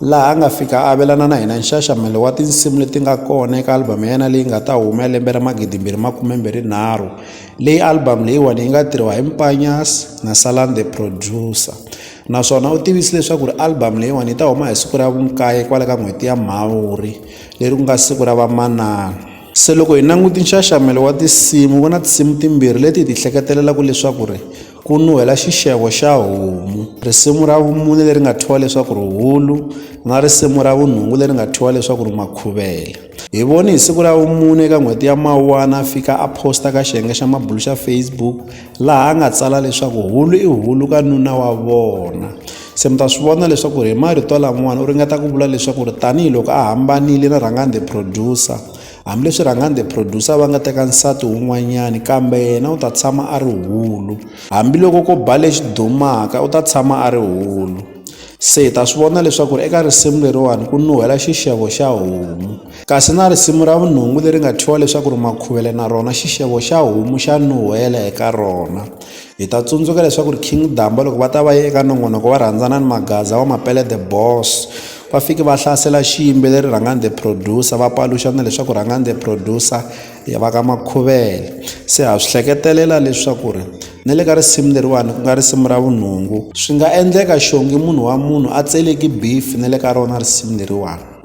laha a nga fika a avelana na hina nxaxamelo wa tinsimu leti nga kona eka album ya yena leyi nga ta huma lembe ra magidimbirhi makumembirhi nharhu leyi album leyiwani yi nga tirhiwa hi Mpanyas na Salan the producer naswona u tivise leswaku ri album leyiwani yi ta huma hi siku ra vunkaye kwale ka n'hweti ya Mhawuri leri ku nga siku ra vamanana se loko hi languti nxaxamelo wa tinsimu ku na tinsimu timbirhi leti hi ti hleketelelaka leswaku ri Ku nuhela xixevo xa homu. Risimu ra vumune leri nga thyiwa leswaku ri hulu na risimu ra vunhungu leri nga thyiwa leswaku ri makhuvele. Hi voni hi siku ra vumune eka n'hweti ya Mawuwana a fika a posta ka xiyenge xa mabulu xa Facebook laha a nga tsala leswaku hulu i hulu ka nuna wa vona. Se mi ta swi vona leswaku ri hi marito lamawani u ringeta ku vula leswaku ri tanihiloko a hambanile na Rhangani the producer Hambileswi rhangani the producer va nga teka nsati wun'wanyani kambe yena u ta tshama a ri hulu hambiloko ko ba lexi dumaka u ta tshama a ri hulu se hi ta swi vona leswaku ri eka risimu leriwani ku nuhela xixevo xa homu kasi na risimu ra vunhungu leri nga thyiwa leswaku ri makhuvele na rona xixevo xa homu xa nuhela eka rona Hi ta tsundzuka leswaku ri King Damba loko va ta va ye eka nongonoko wa rhandzana ni Magaza wa Mapele the Boss va fike va hlasela xiyimbeleri Rhangani the Producer va paluxa na leswaku Rhangani the Producer i va ka Makhuvele se ha swi hleketelela leswaku ri na le ka risimu leriwani ku nga risimu ra vunhungu swi nga endleka xongi munhu wa munhu a tseleki beef na le ka rona risimu leriwani.